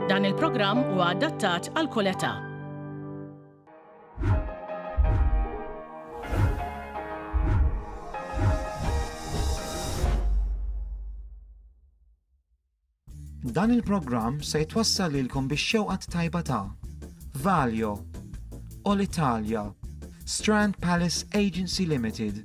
Dan il-programm huwa adattat għal kull età. Dan il-programm se jitwassal lilkom biex xewqat tajba ta' Valio, All Italia, Strand Palace Agency Limited,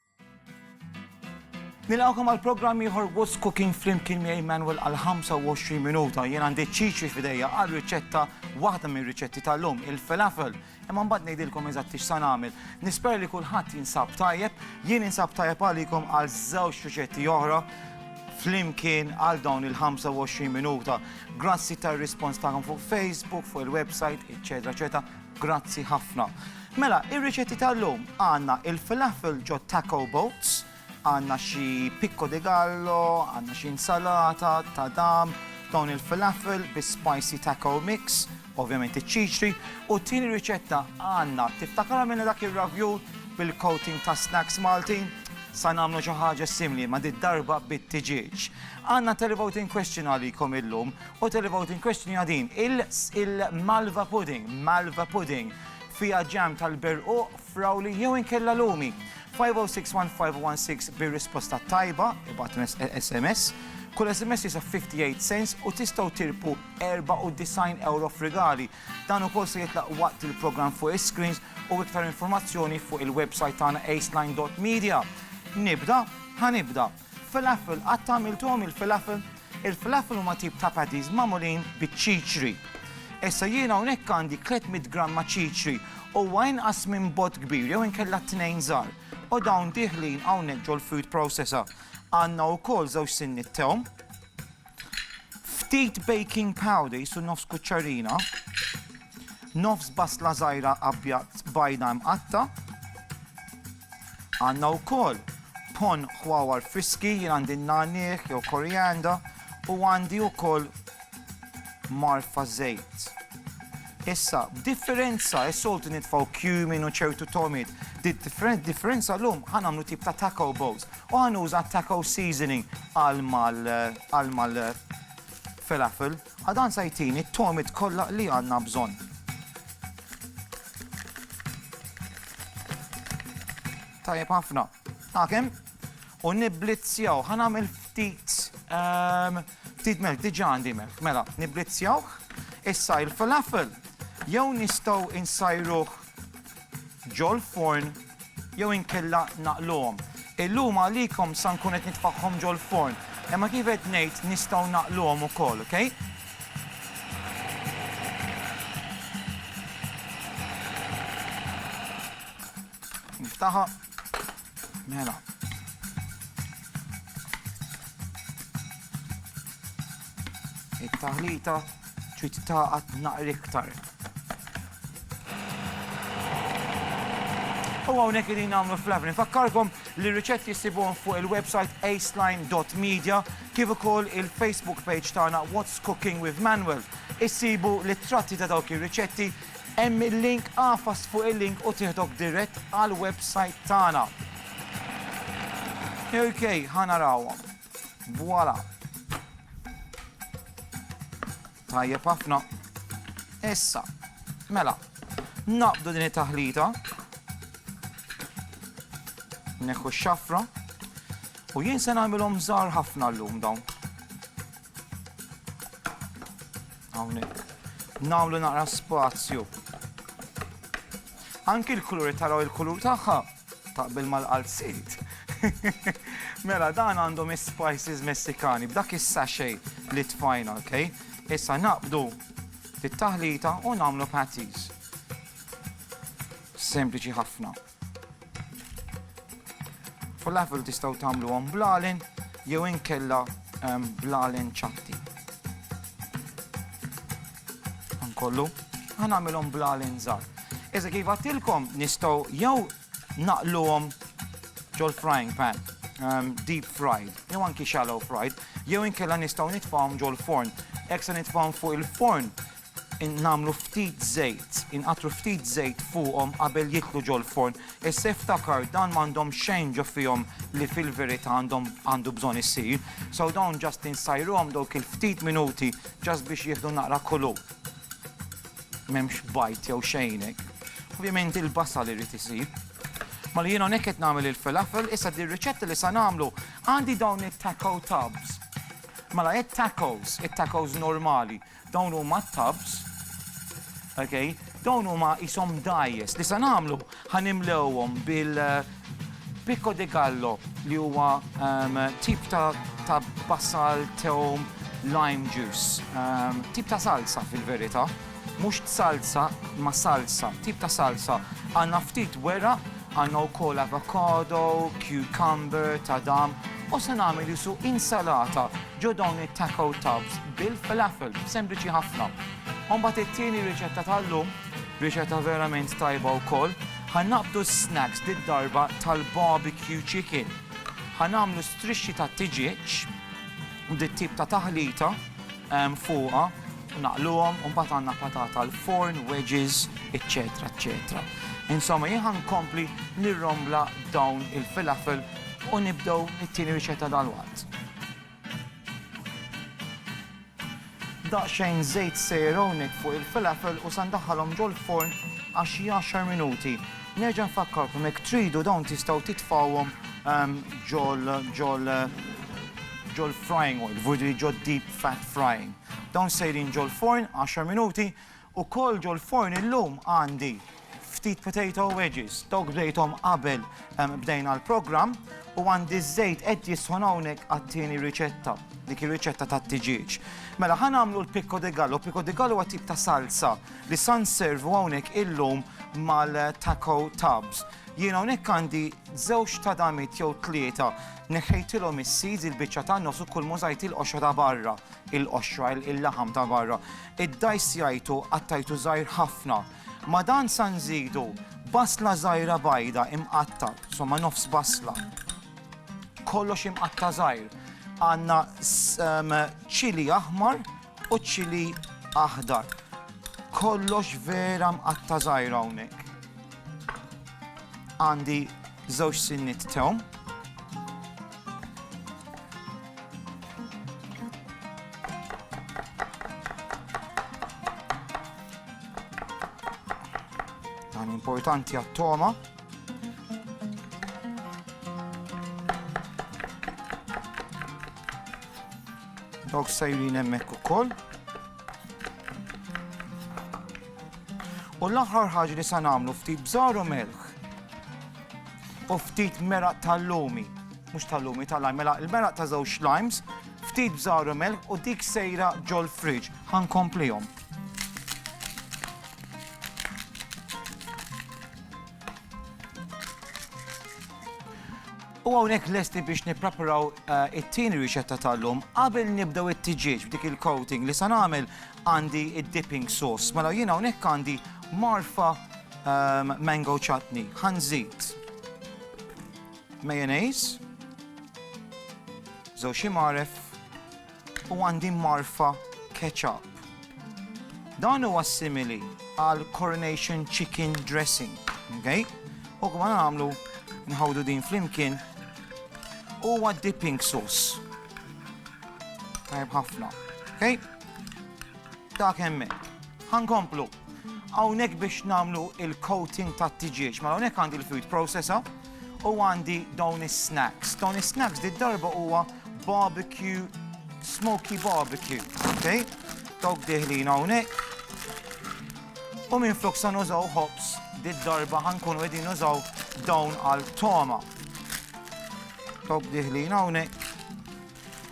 Nilqgħukom għal programm ieħor What's Cooking flimkien miegħi Manuel għal 25 minuta. Jien għandi ċiċi f'idejja għal riċetta waħda minn riċetti tal-lum, il-falafel. Imma mbagħad ngħidilkom eżatt x'sa nagħmel. Nisper li kulħadd jinsab tajjeb, jien insab tajjeb għalikom għal żewġ riċetti oħra flimkien għal dawn il-25 minuta. Grazzi tar-rispons tagħkom fuq Facebook, fuq il-website, eċetera, eċetera. Grazzi ħafna. Mela, ir-riċetti tal-lum għandna il-falafel ġo taco boats, għandna xi picco di gallo, għandna xi insalata, tadam, dawn il-falafel bi spicy taco mix, ovvjament iċ-ċiċri, u t-tieni riċetta għandna tiftakar għamilna dak ir-ravjul bil-coating ta' snacks Maltin? Sa nagħmlu xi ħaġa simili ma' did-darba bit-tiġieġ. Għandna televoting question għalikom illum U televoting question hija din, il-malva pudding, malva pudding, fiha ġam tal-berquq, frawli jew inkella lumi. 5061516 bir-risposta tajba, ibgħat SMS. Kull SMS jisa 58 cents u tistgħu tirpu 94 euro f'rigali. Dan ukoll se jitlaq waqt il-programm fuq is-screens u iktar informazzjoni fuq il-website tagħna aceline.media. Nibda, ħanibda. Falafel, qatt għamilthom il-falafel? Il-falafel huma tip ta' patties magħmulin biċ-ċiċri. Issa jien hawnhekk għandi tliet mitt gramma ċiċri, huwa inqas minn bott kbir jew inkella tnejn żgħar, u dawn dieħlin hawnhekk ġol-food processor. Għandna wkoll żewġ sinniet tewm, ftit baking powder, qisu nofs kuċċarina, Nofs basla żgħira qabbja bajda mqatta'. Għandna wkoll ponn ħwawar friski, jien għandi n-nagħniegħ jew korianda u għandi wkoll marfa żejt. Issa, b'differenza, is-soltu nitfgħu cumin u ċertu togħmiet, differenza llum ħa nagħmlu tip ta' taco bowls u ħa nuża taco seasoning għal mal-falafel. A Dan se jtini t-togħmiet kollha li għandna bżonn. Tajjeb ħafna. Għakem, u nibblizzjaw, ħan għamil ftit, ehm, ftit melk, diġa għandi melk, mela, nibblizzjaw, issa il-falafel, jew nistaw insajruħ ġol-forn jew inkella naqluhom. Illum għalikom sa nkun qed nitfagħhom ġol-forn, imma kif qed ngħid nistgħu naqluhom ukoll, ok? Niftaħha. Mela. It-taħlita trid taqgħad naqri iktar. U hawnhekk irid nagħmlu fl-avni. Fakkarkom li riċetti jsibuhom fuq il-website aceline.media kif ukoll il-Facebook page tagħna What's Cooking with Manuel. Issibu l-ittratti ta' dawk ir-riċetti Hemm il-link Agħfas fuq il-link u tieħdok dirett għall-websajt tagħna. Ok, ħa narawhom. Voilà. Tajjeb ħafna. Issa, mela, naqbdu din it-taħlita. Neħu x-xafra. U jien se nagħmilhom żgħar ħafna llum dawn. Hawnhekk. Nagħmlu naqra spazju. Anki l-kuluri taraw il-kulur tagħha taqbel mal-qalziet. Mela dan għandhom is-spices Messikani b'dak is-sachet li tfajna, ok? Issa naqbdu fit-taħlita u nagħmlu patties. Sempliċi ħafna. Falafel tistgħu tagħmluhom bl-għalin jew inkella bl-għalin ċatti. Nkollu, ħanamilhom bl-għalin żgħar. Iżda kif għattilkom nistgħu jew naqluhom ġol frying pan, um, deep fried, jew anki shallow fried, jew inkella nistgħu nitfgħuhom ġol forn. Hekk se nitfgħuhom fuq il-forn nagħmlu ftit żejt, inqattru ftit żejt fuqhom qabel jidħlu ġol-forn. Issa iftakar dan m'għandhom xejn ġo fihom li fil-verità għandhom għandu bżonn isir. So dawn ġast insajruhom dawk il-ftit minuti ġast biex jieħdu naqra kulur. M'hemmx bajd jew xejn hekk. Ovvjament il-basal irid isir. Mela jien hawnhekk qed nagħmel il-falafel, issa di r-riċetta li sa nagħmlu għandi dawn it-taco tubs. Mela it-tacos, it-tacos normali. Dawn huma t-tubs, ok, dawn huma qishom dajjes li se nagħmlu ħa nimlewhom bil picco de gallo li huwa tip ta' basal, tewm, lime juice, tip ta' salsa fil-verità, mhux salsa ma salsa, tip ta' salsa. Għandna ftit weraq, għandna wkoll avocado, cucumber, tadam, u se nagħmel qisu insalata. Ġew dawn it-taco tubs bil-falafel, sempliċi ħafna. U mbagħad it-tieni riċetta tal-lum, riċetta verament tajba wkoll, ħa naqbdu s-snacks did-darba tal-barbecue chicken. Ħa nagħmlu strixxi ta' tiġieġ u dit-tip ta' taħlita ehm, fuqha naqluhom u mbagħad għandna patata l-forn, wedges, eċċetera, eċċetera. Insomma, jien nkompli nirrombla dawn il-filafel u nibdew mit-tieni riċetta dalwaqt. Daqsxejn żejt Saronik fuq il-filafel u se ndaħħalhom ġol-forn għal xi għaxar minuti. Nerġa' nfakkarkom jekk tridu dawn tistgħu titfgħuhom ġol ġol ġol-frying oil, jiġifieri ġod-deep fat frying. Dawn sejrin ġol-forn għaxar minuti Ukoll ġol-forn illum għandi ftit potato wedges, dawk bdejthom qabel bdejna l-programm, u għandi ż-żejt qed jisħon hawnhekk għat-tieni riċetta, dik ir-riċetta tat-tiġieġ. Mela ħa nagħmlu l-picco de gallo, picco de gallo huwa tip ta' salsa li sa nservu hawnhekk illum mal-taco tubs. Jien hawnhekk għandi żewġ tadamiet jew tlieta, neħħejtilhom is-seeds, il-biċċa tan-nofs u kull m'użajt il-qoxra ta' barra, il-qoxra, il-laħam ta' barra. iddajsjajtu qattajtu żgħir ħafna. Ma' dan sa nżidu basla żgħira bajda imqatta', somma nofs basla. Kollox imqatta' żgħir. Għandna ċili aħmar u ċili aħdar. Kollox vera mqatta' żgħir hawnhekk. Għandi żewġ sinnit tewm. Dan importanti għat-toma. Dawk sajrin hemmhekk ukoll. U l-aħħar ħaġa li se nagħmlu ftit bżaru melħ. u ftit meraq tal-lumi, mhux tal-lumi tal-lime, mela il-meraq ta' żewġ limes, ftit bżawru mel u dik sejra ġol fridge. Ħankomplihom. U għonek lesti biex nipreparaw eh, it-tini riċetta tal-lum qabel nibdew it-tiġieġ b'dik il-coating li san għamil Għandi id-dipping sauce. Mela jiena hawnhekk għandi marfa ehm, mango chutney. Ħanżid mayonnaise, żewġ imaref u għandi marfa ketchup. Dan huwa simili għal coronation chicken dressing, okay? U kma nagħmlu nħawdu din flimkien huwa dipping sauce. Tajb ħafna, okay? Ta' kemmek. Ħankomplu. Hawnhekk biex nagħmlu il-coating tat-tiġieġ. Ma hawnhekk għandi l-food processor u għandi dawn is-snacks. Dawn is-snacks di darba huwa barbecue, smoky barbecue. Okay? Dawk diħlin hawnhekk. U minn flok sa nużaw hops di darba ħankunu qegħdin nużaw dawn għal toma. Dawk diħlin hawnhekk.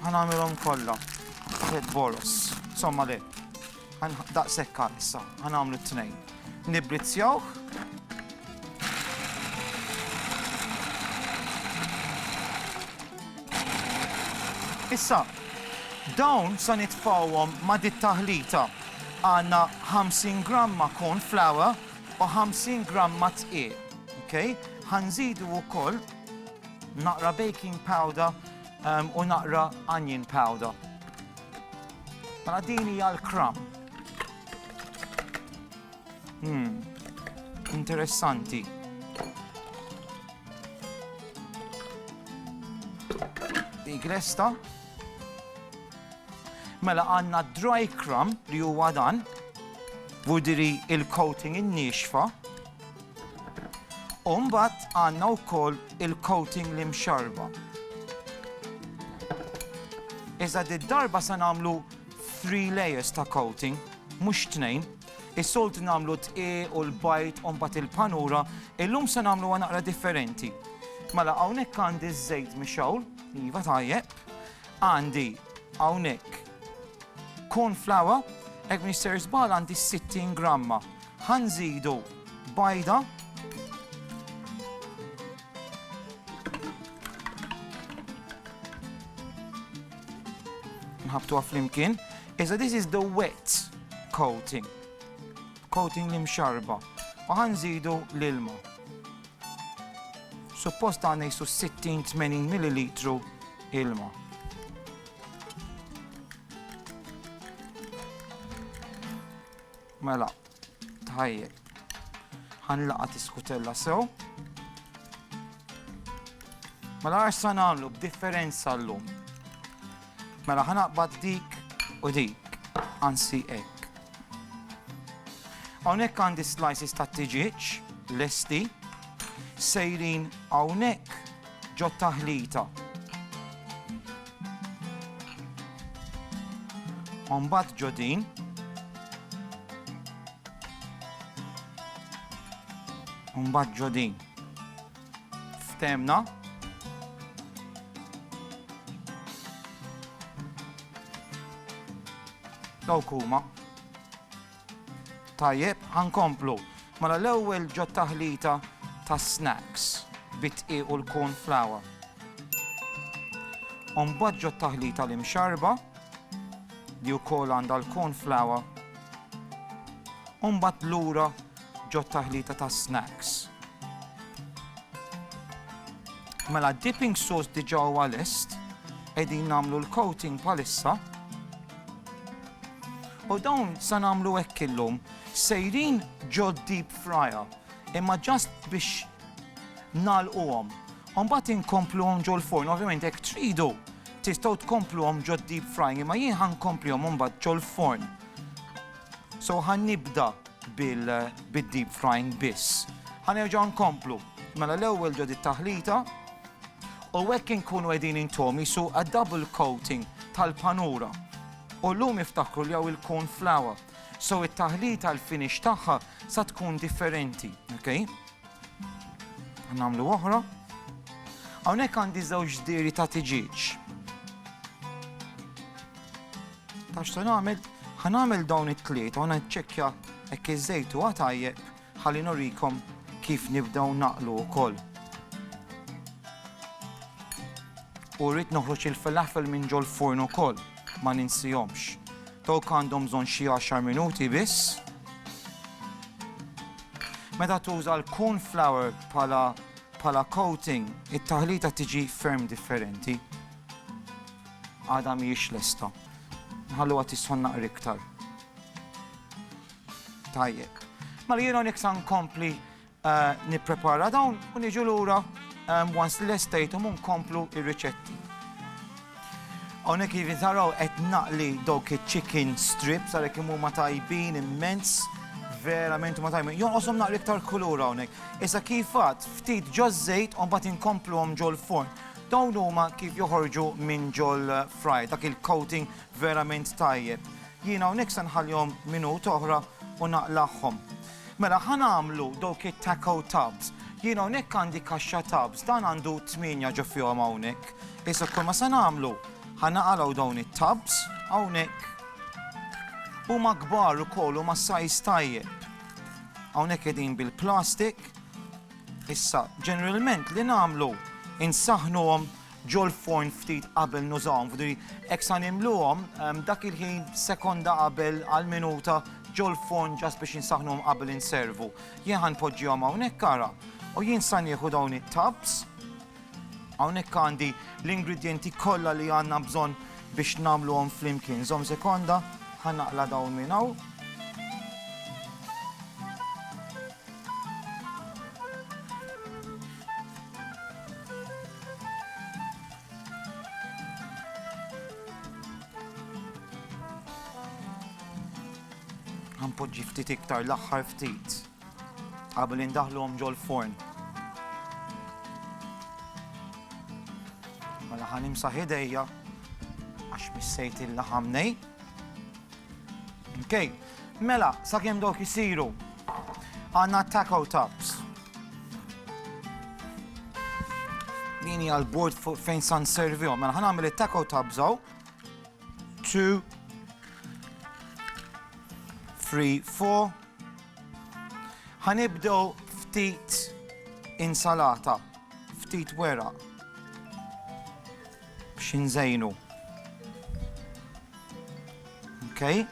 Ħa nagħmilhom kollha tliet boroż. Insomma le. Daqshekk għal issa. Ħa nagħmlu t-tnejn. Nibbrizzjawh. Issa, dawn sa nitfawhom ma' dit taħlita għandna 50 gramma corn flour u 50 gramma tqiq. Okay? Ħanżidu wkoll naqra baking powder U naqra onion powder. Mela din hija l-kram. Hmm, interessanti. Dik lesta. Mela għanna dry crumb li huwa dan, budiri il-coating in-nixfa. U mbagħad għandna wkoll il-coating li mxarba. Iżda d-darba se nagħmlu 3 layers ta' coating, mhux tnejn. Is-solt nagħmlu t-tqi u l-bajt u mbagħad il-panura, illum se nagħmlu naqra differenti. Mela hawnhekk għandi ż-żejt mixawl, iva tajjeb, għandi hawnhekk Corn flour, hekk m'iniex ser żball għandi 60 gramma. Ħa nżidu bajda. Nħabtuha flimkien. Iżda this is the wet coating. Coating li mxarba. U ħa nżidu l-ilma. Suppost għandna jisu 60-80 ml ilma. Mela, tħajjel. Ħan laqa tiskutella sew. Mela għax sa nagħmlu b'differenza llum. Mela ħan aqbad dik u dik, ansi hekk. Hawnhekk għandi slices ta' tiġieġ lesti sejrin hawnhekk ġot-taħlita. U mbagħad ġo din. U mbagħad ġo din. Ftemna. Dawk huma. Tajjeb, ħa nkomplu. Mela l-ewwel ġo taħlita ta' snacks bid-dqiq u l-corn flour. U mbagħad ġo taħlita l-imxarba li wkoll għandha l-corn flour. U mbagħad lura ġo taħlita ta' snacks. Mela dipping sauce diġà huwa lest, qegħdin nagħmlu l-coating palissa. U dawn sa nagħmlu hekk illum. Sejrin ġo deep fryer, imma just biex nagħlquhom. U mbagħad inkompluhom ġo l-forn, ovvjament jekk tridu tistgħu tkompluhom ġo deep frying, imma jien ħa nkomplihom imbagħad ġo l-forn. So ħa nibda bil-deep frying biss. Ħa nerġa' nkomplu. Mela l-ewwel ġo dit-taħlita u hekk inkunu qegħdin intom isu a double coating tal-panura. U llum iftakru li hawn il-corn flour. So it-taħlita l-finish tagħha sa tkun differenti, ok? Nagħmlu oħra. Hawnhekk għandi żewġ diri ta' tiġieġ. Tax se nagħmel, ħanagħmel dawn it-tlieta u naċċekkja hekk iż-żejt huwa tajjeb Ħalli nurikom kif nibdew naqlu wkoll. U rrid noħroġ il-falafel minn ġol-furn ukoll, ma ninsihomx. Dawk għandhom bżonn xi għaxar minuti biss. Meta tuża l-corn flour bħala bħala coating, it-taħlita tiġi ferm differenti. Għadha mhijiex lesta. Nħalluha tisħon naqra iktar. Tajjeb. Mela jiena nek sa nkompli nipprepara dawn u niġu lura once li lestejthom u nkomplu ir-riċetti. Hawnhekk jivi taraw qed naqli dawk iċ-chicken strips għalhekk imur ma tajbin immens verament ma tajbin. Jonqoshom naqli iktar kulur hawnhekk. Issa kif għad ftit ġo żejt u mbagħad inkompluhom ġol-forn. Dawn huma kif joħorġu minn ġol-fry, dak il-coating Verament tajjeb. Jien hawnhekk se nħallihom minuta oħra u naqlagħhom. Mela ħa nagħmlu dawk it-taco tubs. Jien hawnhekk għandi kaxxa tubs, dan għandu tmienja ġo fihom hawnhekk. Issa kull ma se nagħmlu, ħa naqalgħu dawn it-tubs hawnhekk. Huma kbar ukoll huma sajs tajjeb. Hawnhekk qegħdin bil-plastik. Issa, ġeneralment li nagħmlu insaħnuhom ġol-forn ftit qabel nużawhom, f'dri hekk sa nimluhom, dak il-ħin sekonda qabel għal minuta ġol-forn ġast biex insaħħnuhom qabel inservu. Jien ħa npoġġihom hawnhekk ara, u jien sa nieħu dawn it-tubs, hawnhekk għandi l-ingredjenti kollha li għandna bżonn biex nagħmluhom flimkien. Żomm sekonda, ħa naqla' dawn minn hawn. Ħanpoġġi ftit iktar l-aħħar ftit qabel indaħluhom ġol-forn. Mela ħanimsa ħidejja għax missejt il-laħam nej. Okay. Mela, sakemm dawk isiru, għandna taco tops. Din hija l-bord fejn san servihom. Mela ħan għamil it-taco tops hawn. Two, three, four. Ħanibdew ftit insalata, ftit wera. biex inżejnu. Okay.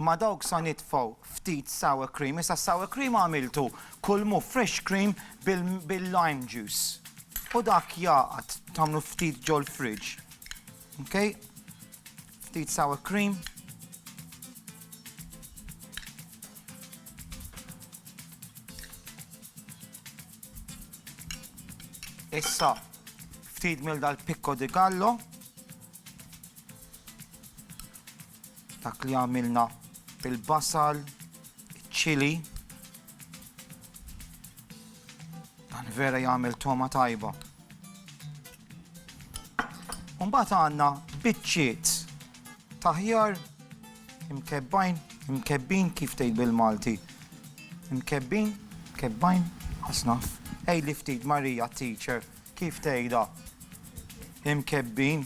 ma dawk sa nitfaw ftit sour cream, issa sour cream għamiltu kull mu fresh cream bil-lime juice. U dak jaqat tamlu ftit ġol fridge. Okay? Ftit sour cream. Issa ftit mill dal-pikko di gallo. Dak li għamilna bil-basal, ċili, Dan vera jagħmel toma tajba. Mbagħad għandna biċċiet taħjar imkebbajn, imkebbin kif tgħid bil-Malti. Imkebbin, kebbajn, ħasnaf. Ej li ftit Marija teacher kif tgħidha. Imkebbin,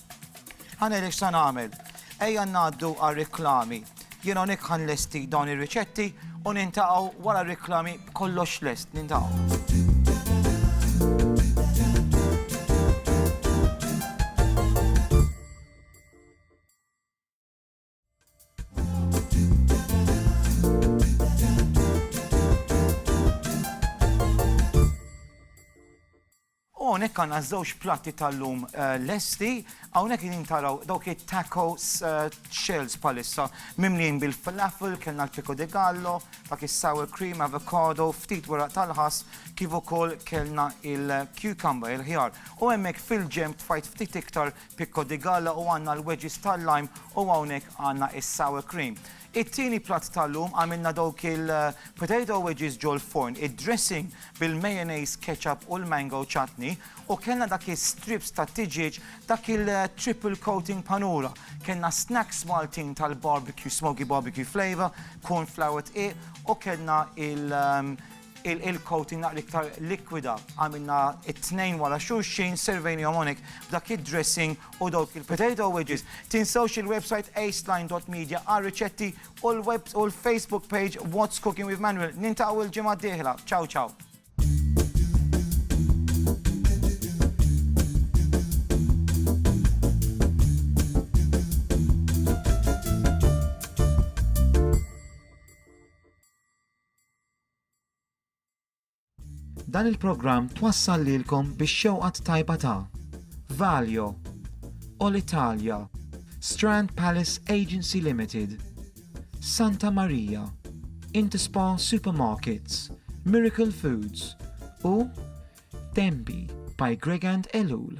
Ħa neri x'sa nagħmel. Ejja ngħaddu għar-riklami. Jien hawnhekk ħa nlesti dawn ir-riċetti u nintaqgħu wara r-riklami b'kollox lest. Nintaqgħu. Hawnhekk għandna żewġ platti tal-lum eh, lesti, hawnhekk qegħdin taraw dawk it-taco eh, shells palissa mimlin bil-falafel, kellna l-pico de gallo, dak is-sour cream, avocado, ftit wara tal-ħas, kif ukoll kellna il-cucumber, il-ħjar. U hemmhekk fil-ġemp tfajt ftit iktar Picco di Galla u għandna l-wedges tal-lime u hawnhekk għandna is-sour cream. It-tieni platt tal-lum għamilna dawk il-potato wedges ġol-forn, id-dressing bil-mayonnaise, ketchup u l-mango chutney u kellna dak is-strips tat-tiġieġ dak il-triple coating panura. Kellna snacks Maltin tal-barbecue, smoky barbecue flavour, corn flour dqiq u kellna il- il-coating naqra iktar likwida għamilna it-tnejn wara xulxin servejnihom hawnhekk b'dak id-dressing u dawk il-potato wedges. Tinsewx il-website aceline.media għar-riċetti u l-web u l-Facebook page What's Cooking with Manuel. Nintaqgħu il-ġimgħa d-dieħla. Ciao ciao. Dan il-programm twassal lilkom bix-xewqa t-tajba ta' Valio, Olitalia, Strand Palace Agency Limited, Santa Maria, Interspa Supermarkets, Miracle Foods u Denby by Gregand Ellul.